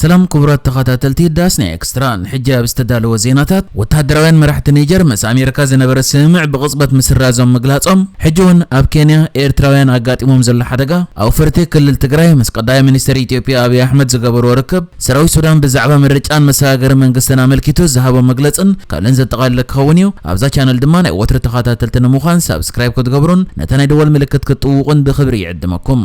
ሰላም ክቡራት ተኸታተልቲ ዳስ ናይ ኤክስትራን፣ ሕጂ ኣብ ዝተዳለወ ዜናታት፣ ወተሃደራውያን መራሕቲ ኒጀር ምስ ኣሜሪካ ዝነበረ ስምምዕ ብቕጽበት ምስራዞም ምግላጾም፣ ሕጂ ውን ኣብ ኬንያ ኤርትራውያን ኣጋጢሞም ዘሎ ሓደጋ፣ ኣውፈርቲ ክልል ትግራይ ምስ ቀዳማይ ሚኒስተር ኢትዮጵያ ኣብይ ኣሕመድ ዝገበርዎ ርክብ፣ ሰራዊት ሱዳን ብዛዕባ ምርጫን መሰጋገሪ መንግስትን ኣመልኪቱ ዝሃቦ መግለጽን ካልእን ዘጠቓለለ ክኸውን እዩ። ኣብዛ ቻነል ድማ ናይ ወትሩ ተኸታተልቲ ንምዃን ሳብስክራይብ ክትገብሩን ነታ ናይ ደወል ምልክት ክትጥውቑን ብኽብሪ ይዕድመኩም።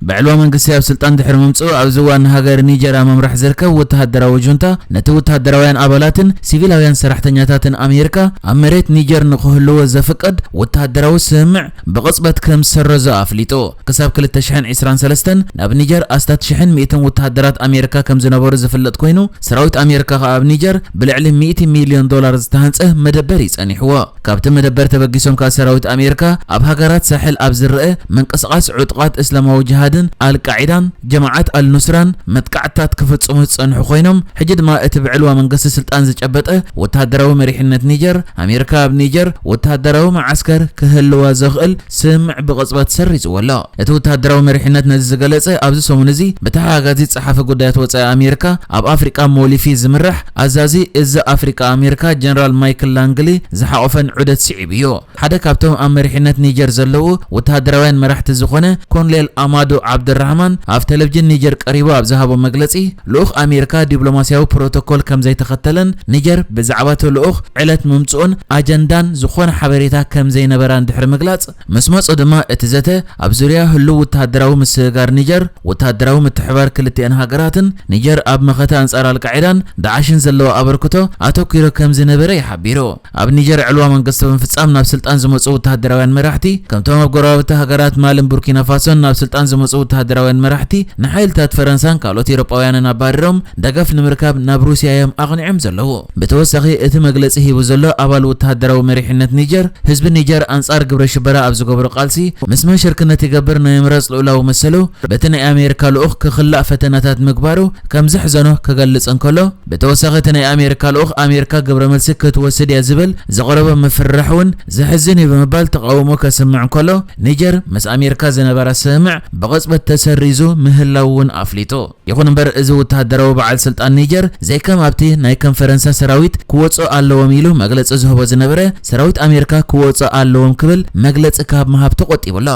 ብዕልዋ መንግስቲ ኣብ ስልጣን ድሕሪ ምምጽኡ ኣብዚ እዋን ንሃገር ኒጀር ኣብ ምምራሕ ዝርከብ ወተሃደራዊ ጁንታ ነቲ ወተሃደራውያን ኣባላትን ሲቪላውያን ሰራሕተኛታትን ኣሜሪካ ኣብ መሬት ኒጀር ንኽህልዉ ዘፍቅድ ወተሃደራዊ ስምምዕ ብቕጽበት ከም ዝሰረዞ ኣፍሊጡ። ክሳብ ክልተ ሽሕን ዕስራን ሰለስተን ናብ ኒጀር ኣስታት ሽሕን ሚእትን ወተሃደራት ኣሜሪካ ከም ዝነበሩ ዝፍለጥ ኮይኑ ሰራዊት ኣሜሪካ ከኣ ኣብ ኒጀር ብልዕሊ ሚእቲ ሚልዮን ዶላር ዝተሃንጸ መደበር እዩ ጸኒሕዎ። ካብቲ መደበር ተበጊሶም ከኣ ሰራዊት ኣሜርካ ኣብ ሃገራት ሳሕል ኣብ ዝረኣ ምንቅስቓስ ዑጡቓት እስላማዊ ጅሃድን ኣልቃዒዳን ጀማዓት ኣልኑስራን መጥቃዕትታት ክፍጽሙ ዝጸንሑ ኮይኖም ሕጂ ድማ እቲ ብዕልዋ መንግስቲ ስልጣን ዝጨበጠ ወተሃደራዊ መሪሕነት ኒጀር ኣሜርካ ኣብ ኒጀር ወተሃደራዊ መዓስከር ክህልዋ ዘኽእል ስምምዕ ብቕጽበት ሰሪዝዎ ኣሎ። እቲ ወተሃደራዊ መሪሕነት ነዚ ዝገለጸ ኣብዚ ሰሙን እዚ ብተሓጋጋዚ ጸሓፊ ጉዳያት ወጻኢ ኣሜሪካ ኣብ ኣፍሪቃ ሞሊፊ ዝምራሕ ኣዛዚ እዝ ኣፍሪቃ ኣሜሪካ ጀነራል ማይክል ላንግሊ ዝሓቖፈን ዑደት ስዒቡ እዩ። ሓደ ካብቶም ኣብ መሪሕነት ኒጀር ዘለዉ ወተሃደራውያን መራሕቲ ዝኾነ ኮንሌል ኣማዱ ዓብደልራህማን ኣብ ተለቭጅን ኒጀር ቀሪቡ ኣብ ዝሃቦ መግለጺ ልኡኽ ኣሜሪካ ዲፕሎማስያዊ ፕሮቶኮል ከምዘይተኸተለን ኒጀር ብዛዕባ እቲ ልኡኽ ዕለት ምምጽኡን ኣጀንዳን ዝኾነ ሓበሬታ ከምዘይነበራን ድሕሪ ምግላጽ፣ ምስ መጹ ድማ እቲ ዘተ ኣብ ዙርያ ህሉው ወተሃደራዊ ምስግጋር ኒጀር፣ ወተሃደራዊ ምትሕብባር ክልቲኤን ሃገራትን፣ ኒጀር ኣብ መኸተ ኣንጻር ኣልቃዒዳን ዳዕሽን ዘለዋ ኣበርክቶ ኣተኲሩ ከምዝነበረ እዩ ሓቢሩ። ኣብ ኒጀር ዕልዋ መንግስቲ ብምፍጻም ናብ ስልጣን ዝመጹ ወተሃደራውያን መራሕቲ፣ ከምቶም ኣብ ጎረባብቲ ሃገራት ማልን ቡርኪናፋሶን ናብ ስልጣን ዝመጹ ወተሃደራውያን መራሕቲ፣ ንሓይልታት ፈረንሳን ካልኦት ኤሮጳውያንን ኣባሪሮም ደገፍ ንምርካብ ናብ ሩስያ'ዮም ኣቕኒዖም ዘለዉ። ብተወሳኺ እቲ መግለጺ ሂቡ ዘሎ ኣባል ወተሃደራዊ መሪሕነት ኒጀር፣ ህዝቢ ኒጀር ኣንጻር ግብረ ሽበራ ኣብ ዝገብሮ ቃልሲ ምስ መን ሽርክነት ይገብር ናይ ምምራጽ ልኡላዊ መሰሉ በቲ ናይ ኣሜሪካ ልኡኽ ክኽላእ ፈተነታት ምግባሩ ከም ዘሕዘኖ ክገልጽ እንከሎ፣ ብተወሳኺ እቲ ናይ ኣሜሪካ ልኡኽ ኣሜሪካ ግብረ መልሲ ክትወስድ እያ ዝብል ዘቕረቦ ምፍርራሕ እውን ዘሕዝን እዩ ብምባል ተቓውሞ ከስምዕ እንከሎ ኒጀር ምስ ኣሜሪካ ዝነበራ ስምምዕ ብቕጽበት ተሰሪዙ ምህላዉ እውን ኣፍሊጡ። ይኹን እምበር እዚ ውተሃደራዊ በዓል ስልጣን ኒጀር ዘይከም ኣብቲ ናይ ከም ፈረንሳ ሰራዊት ክወጽኡ ኣለዎም ኢሉ መግለጺ ዝህቦ ዝነበረ ሰራዊት ኣሜሪካ ክወጽኡ ኣለዎም ክብል መግለጺ ካብ ምሃብ ተቖጢቡ ኣሎ።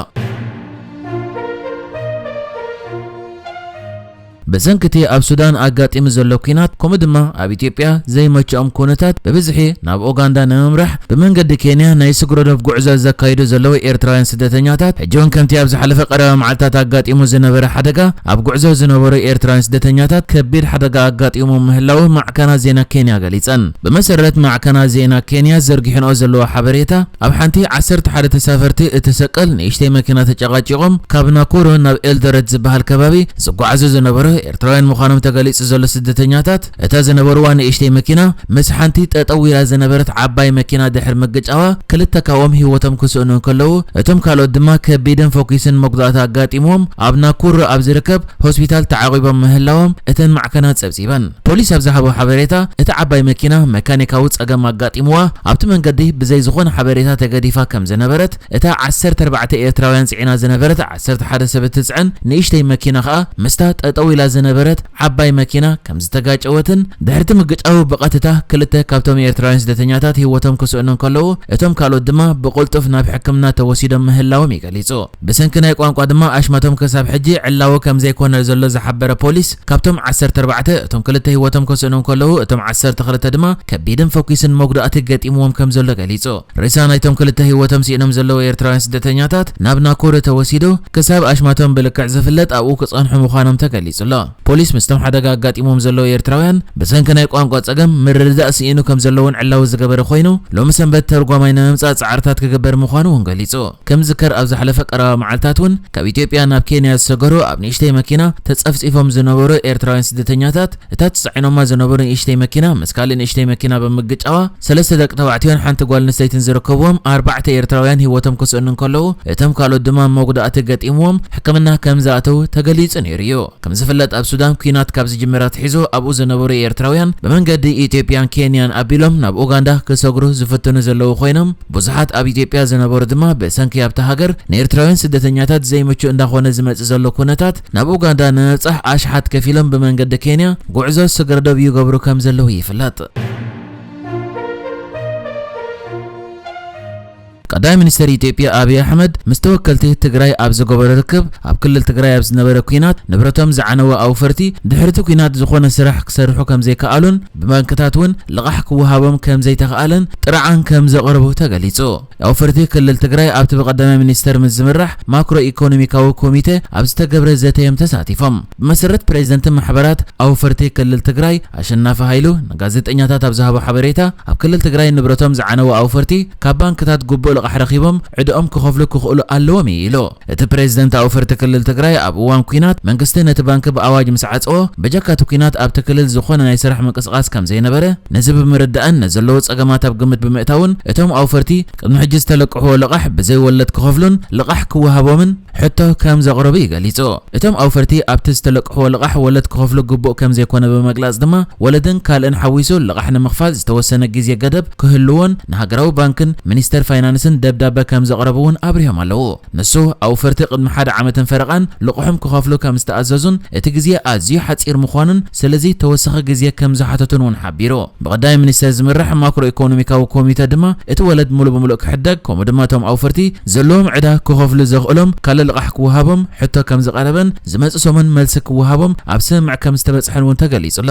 ብሰንኪ እቲ ኣብ ሱዳን ኣጋጢሙ ዘሎ ኲናት ከምኡ ድማ ኣብ ኢትዮጵያ ዘይመቸኦም ኩነታት ብብዝሒ ናብ ኡጋንዳ ንምምራሕ ብመንገዲ ኬንያ ናይ ስግረዶብ ጉዕዞ ዘካይዱ ዘለዉ ኤርትራውያን ስደተኛታት ሕጂውን ከምቲ ኣብ ዝሓለፈ ቀረባ መዓልታት ኣጋጢሙ ዝነበረ ሓደጋ ኣብ ጉዕዞ ዝነበሩ ኤርትራውያን ስደተኛታት ከቢድ ሓደጋ ኣጋጢሙ ምህላዉ ማዕከናት ዜና ኬንያ ገሊጸን። ብመሰረት ማዕከናት ዜና ኬንያ ዘርጊሐንኦ ዘለዋ ሓበሬታ ኣብ ሓንቲ ዓሰርተ ሓደ ተሳፈርቲ እትሰቀል ንእሽተይ መኪና ተጨቓጪቖም ካብ ናኩሩ ናብ ኤልዶረት ዝበሃል ከባቢ ዝጓዓዙ ዝነበሩ ኤርትራውያን ምዃኖም ተገሊጹ ዘሎ ስደተኛታት፣ እታ ዝነበርዋ ንእሽተይ መኪና ምስ ሓንቲ ጠጠው ኢላ ዝነበረት ዓባይ መኪና ድሕሪ ምግጫዋ ክልተ ካብኦም ህይወቶም ክስእኑ እንከለዉ እቶም ካልኦት ድማ ከቢድን ፎኪስን መጉዳእቲ ኣጋጢምዎም ኣብ ናኩሩ ኣብ ዝርከብ ሆስፒታል ተዓቚቦም ምህላዎም እተን ማዕከናት ጸብጺበን። ፖሊስ ኣብ ዝሃቦ ሓበሬታ፣ እታ ዓባይ መኪና መካኒካዊ ጸገም ኣጋጢምዋ ኣብቲ መንገዲ ብዘይ ዝኾነ ሓበሬታ ተገዲፋ ከምዝነበረት እታ ዓሰርተ ኣርባዕተ ኤርትራውያን ጽዒና ዝነበረት ዓሰርተ ሓደ ሰብ እትጽዕን ንእሽተይ መኪና ከኣ ምስታ ጠጠው ኢላ ዝነበረት ዓባይ መኪና ከምዝተጋጨወትን ድሕሪቲ ምግጫው ብቐትታ ክልተ ካብቶም ኤርትራውያን ስደተኛታት ህይወቶም ክስእኑ እንከለዉ እቶም ካልኦት ድማ ብቕልጡፍ ናብ ሕክምና ተወሲዶም ምህላዎም እዩ ገሊጹ። ብሰንኪ ናይ ቋንቋ ድማ ኣሽማቶም ክሳብ ሕጂ ዕላዊ ከምዘይኮነ ዘሎ ዝሓበረ ፖሊስ ካብቶም ዓሰርተ ኣርባዕተ እቶም ክልተ ህይወቶም ከስእኑ እንከለዉ እቶም ዓሰርተ ክልተ ድማ ከቢድን ፈኲስን መጉዳእቲ ገጢምዎም ከምዘሎ ገሊጹ። ሬሳ ናይቶም ክልተ ህይወቶም ሲእኖም ዘለዉ ኤርትራውያን ስደተኛታት ናብ ናኮደ ተወሲዱ ክሳብ ኣሽማቶም ብልክዕ ዝፍለጥ ኣብኡ ክጸንሑ ምዃኖም ተገሊጹ'ሎ። ፖሊስ ምስቶም ሓደጋ ኣጋጢምዎም ዘለዉ ኤርትራውያን ብሰንኪ ናይ ቋንቋ ጸገም ምርድዳእ ስኢኑ ከምዘሎ'ውን ዕላዊ ዝገበረ ኮይኑ፣ ሎሚ ሰንበት ተርጓማይ ንምምጻእ ጻዕርታት ክግበር ምዃኑ'ውን ገሊጹ። ከም ዝዝከር ኣብ ዝሓለፈ ቀረባ መዓልታት'ውን ካብ ኢትዮጵያ ናብ ኬንያ ዝሰገሩ ኣብ ንእሽተይ መኪና ተጸፍጺፎም ዝነበሩ ኤርትራውያን ስደተኛታት እታ ተጻዒኖማ ዝነበሩ ንእሽተይ መኪና ምስ ካልእ ንእሽተይ መኪና ብምግጫዋ ሰለስተ ደቂ ተባዕትዮን ሓንቲ ጓል ኣንስተይትን ዝርከብዎም ኣርባዕተ ኤርትራውያን ህይወቶም ክስእኑ እንከለዉ፣ እቶም ካልኦት ድማ መጉዳእቲ ገጢምዎም ሕክምና ከም ዝኣተዉ ተገሊጹ ነይሩ'ዩ። ከም ዝፍለጥ ኣብ ሱዳን ኲናት ካብ ዝጅምር ኣትሒዙ ኣብኡ ዝነበሩ ኤርትራውያን ብመንገዲ ኢትዮጵያን ኬንያን ኣቢሎም ናብ ኡጋንዳ ክሰግሩ ዝፍትኑ ዘለዉ ኮይኖም፣ ብዙሓት ኣብ ኢትዮጵያ ዝነበሩ ድማ ብሰንኪ ኣብታ ሃገር ንኤርትራውያን ስደተኛታት ዘይምቹእ እንዳኾነ ዝመጽእ ዘሎ ኩነታት ናብ ኡጋንዳ ንምብጻሕ ኣሽሓት ከፊሎም ብመንገዲ ኬንያ ጉዕዞ ስግረዶብ ይገብሩ ከም ዘለዉ ይፍለጥ። ቀዳማይ ሚኒስተር ኢትዮጵያ ኣብይ ኣሕመድ ምስ ተወከልቲ ትግራይ ኣብ ዝገበሮ ርክብ፣ ኣብ ክልል ትግራይ ኣብ ዝነበረ ኲናት ንብረቶም ዝዓነወ ኣውፈርቲ ድሕሪ'ቲ ኲናት ዝኾነ ስራሕ ክሰርሑ ከምዘይከኣሉን ብባንክታት እውን ልቓሕ ክወሃቦም ከምዘይተኽኣለን ጥርዓን ከምዘቕርቡ ተገሊጹ። ኣውፈርቲ ክልል ትግራይ ኣብቲ ብቀዳማይ ሚኒስትር ምስ ዝምራሕ ማክሮ ኢኮኖሚካዊ ኮሚቴ ኣብ ዝተገብረ ዘተ እዮም ተሳቲፎም። ብመሰረት ፕሬዚደንት ማሕበራት ኣውፈርቲ ክልል ትግራይ ኣሸናፊ ሃይሉ ንጋዜጠኛታት ኣብ ዝሃቦ ሓበሬታ ኣብ ክልል ትግራይ ንብረቶም ዝዓነዉ ኣውፈርቲ ካብ ባንክታት ጉቡእ ልቓሕ ረኺቦም ዕደኦም ክኸፍሉ ክኽእሉ ኣለዎም እዩ ኢሉ። እቲ ፕሬዚደንታዊ ፍርት ክልል ትግራይ ኣብ እዋን ኲናት መንግስቲ ነቲ ባንኪ ብኣዋጅ ምስ ዓፀዎ በጀካ እቲ ኲናት ኣብቲ ክልል ዝኾነ ናይ ስራሕ ምንቅስቓስ ከምዘይነበረ ነዚ ብምርዳእን ነዘለዎ ፀገማት ኣብ ግምት ብምእታውን እቶም ኣውፈርቲ ቅድሚ ሕጂ ዝተለቅሕዎ ልቓሕ ብዘይ ወለድ ክኸፍሉን ልቓሕ ክወሃቦምን ሕቶ ከምዘቕረቡ እዩ ገሊፁ። እቶም ኣውፈርቲ ኣብቲ ዝተለቅሕዎ ልቓሕ ወለድ ክኸፍሉ ግቡእ ከምዘይኮነ ብምግላፅ ድማ ወለድን ካልእን ሓዊሱ ልቓሕ ንምኽፋል ዝተወሰነ ግዜ ገደብ ክህልዎን ንሃገራዊ ባንክን ሚኒስተር ፋይናንስን ደብዳበ ከም ዘቕረቡ'ውን ኣብሪሆም ኣለዉ። ንሱ፣ ኣውፈርቲ ቅድሚ ሓደ ዓመትን ፈረቓን ልቕሖም ክኸፍሉ ከም ዝተኣዘዙን እቲ ግዜ ኣዝዩ ሓጺር ምዃኑን ስለዚ ተወሳኺ ግዜ ከም ዝሓተቱን'ውን ሓቢሩ። ብቀዳማይ ሚኒስተር ዝምራሕ ማክሮ ኢኮኖሚካዊ ኮሚተ ድማ እቲ ወለድ ምሉእ ብምሉእ ክሕደግ ከምኡ ድማ እቶም ኣውፈርቲ ዘለዎም ዕዳ ክኸፍሉ ዘኽእሎም ካልእ ልቓሕ ክወሃቦም ሕቶ ከም ዝቐረበን ዝመጽእ ሰሙን መልሲ ክወሃቦም ኣብ ስምምዕ ከም ዝተበጽሐን'ውን ተገሊጹ'ሎ።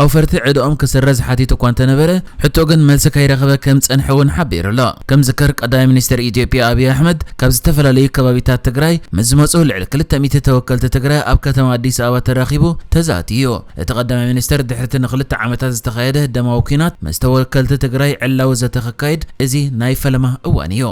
ኣውፈርቲ ዕደኦም ክስረዝ ሓቲቱ እኳ እንተነበረ ሕቶ ግን መልሲ ከይረኸበ ከም ዝጸንሐ እውን ሓቢሩ ኣሎ። ከም ዝዝከር ቀዳማይ ሚኒስተር ኢትዮጵያ ኣብይ ኣሕመድ ካብ ዝተፈላለዩ ከባቢታት ትግራይ ምስ ዝመጹ ልዕሊ ክልተ ሚእቲ ተወከልቲ ትግራይ ኣብ ከተማ ኣዲስ ኣበባ ተራኺቡ ተዛትዩ። እቲ ቀዳማይ ሚኒስተር ድሕሪቲ ንክልተ ዓመታት ዝተኻየደ ደማዊ ኲናት ምስ ተወከልቲ ትግራይ ዕላዊ ዘተ ከካይድ እዚ ናይ ፈለማ እዋን እዩ።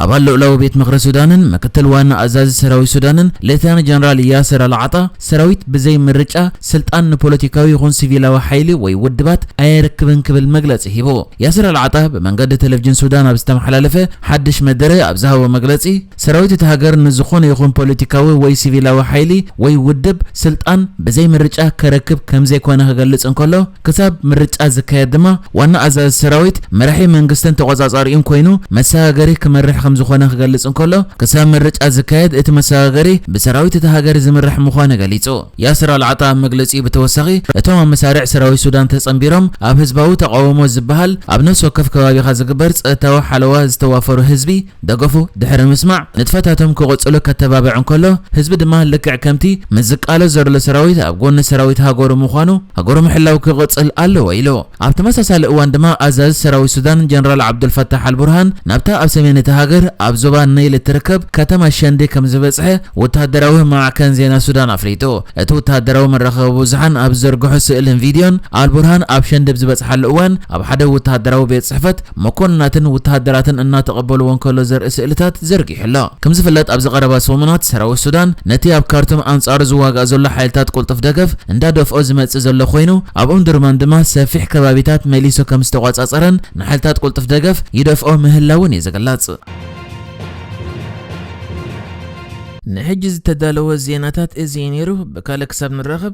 ኣባል ልኡላዊ ቤት ምኽሪ ሱዳንን ምክትል ዋና ኣዛዚ ሰራዊት ሱዳንን ሌተናል ጀነራል ያስር ኣልዓጣ፣ ሰራዊት ብዘይ ምርጫ ስልጣን ንፖለቲካዊ ይኹን ሲቪላዊ ሓይሊ ወይ ውድባት ኣየርክብን ክብል መግለጺ ሂቡ። ያስር ኣልዓጣ ብመንገዲ ተለቭጅን ሱዳን ኣብ ዝተመሓላለፈ ሓድሽ መደረ ኣብ ዝሃቦ መግለጺ፣ ሰራዊት እታ ሃገር ንዝኾነ ይኹን ፖለቲካዊ ወይ ሲቪላዊ ሓይሊ ወይ ውድብ ስልጣን ብዘይ ምርጫ ከረክብ ከምዘይኮነ ክገልጽ እንከሎ፣ ክሳብ ምርጫ ዝካየድ ድማ ዋና ኣዛዚ ሰራዊት መራሒ መንግስትን ተቖጻጻሪኡን ኮይኑ መሰጋገሪ ክመርሕ ከምዝኾነ ክገልጽ እንከሎ፣ ክሳብ ምርጫ ዝካየድ እቲ መሰጋገሪ ብሰራዊት እታ ሃገር ዝምራሕ ምዃኑ ገሊጹ። ያስር ኣልዓጣ ኣብ መግለጺኡ ብተወሳኺ እቶም ኣብ መሳርዕ ሰራዊት ሱዳን ተጸንቢሮም ኣብ ህዝባዊ ተቓውሞ ዝበሃል ኣብ ነፍሲ ወከፍ ከባቢኻ ዝግበር ጸጥታዊ ሓለዋ ዝተዋፈሩ ህዝቢ ደገፉ ድሕሪ ምስማዕ፣ ንጥፈታቶም ክቕጽሉ ከተባብዕ እንከሎ፣ ህዝቢ ድማ ልክዕ ከምቲ ምስ ዝቃለስ ዘሎ ሰራዊት ኣብ ጎኒ ሰራዊት ሃገሩ ምዃኑ፣ ሃገሩ ምሕላው ክቕጽል ኣለዎ ኢሉ። ኣብ ተመሳሳሊ እዋን ድማ ኣዛዚ ሰራዊት ሱዳን ጀነራል ዓብዱልፋታሕ ኣልቡርሃን ናብታ ኣብ ሰሜን እታ ሃገር ኣብ ዞባ ነይል እትርከብ ከተማ ሸንዲ ከም ዝበጽሐ ወተሃደራዊ ማዕከን ዜና ሱዳን ኣፍሊጡ። እቲ ወተሃደራዊ መራኸቢ ብዙሓን ኣብ ዝዘርግሖ ስእልን ቪድዮን፣ ኣልቡርሃን ኣብ ሸንዲ ብዝበጽሓሉ እዋን ኣብ ሓደ ወተሃደራዊ ቤት ጽሕፈት መኮንናትን ውተሃደራትን እናተቐበልዎ እንከሎ ዘርኢ ስእልታት ዘርጊሑ ኣሎ። ከም ዝፍለጥ ኣብዚ ቀረባ ሰሙናት ሰራዊት ሱዳን ነቲ ኣብ ካርቱም ኣንጻሩ ዝዋጋእ ዘሎ ሓይልታት ቁልጡፍ ደገፍ እንዳደፍኦ ዝመጽእ ዘሎ ኮይኑ ኣብ ኡምዱርማን ድማ ሰፊሕ ከባቢታት መሊሱ ከም ዝተቖጻጸረን ንሓይልታት ቁልጡፍ ደገፍ ይደፍኦ ምህላዉን እዩ ዝግለጽ። ንሕጂ ዝተዳለወ ዜናታት እዚ እዩ ነይሩ። ብካልእ ክሳብ ንራኸብ።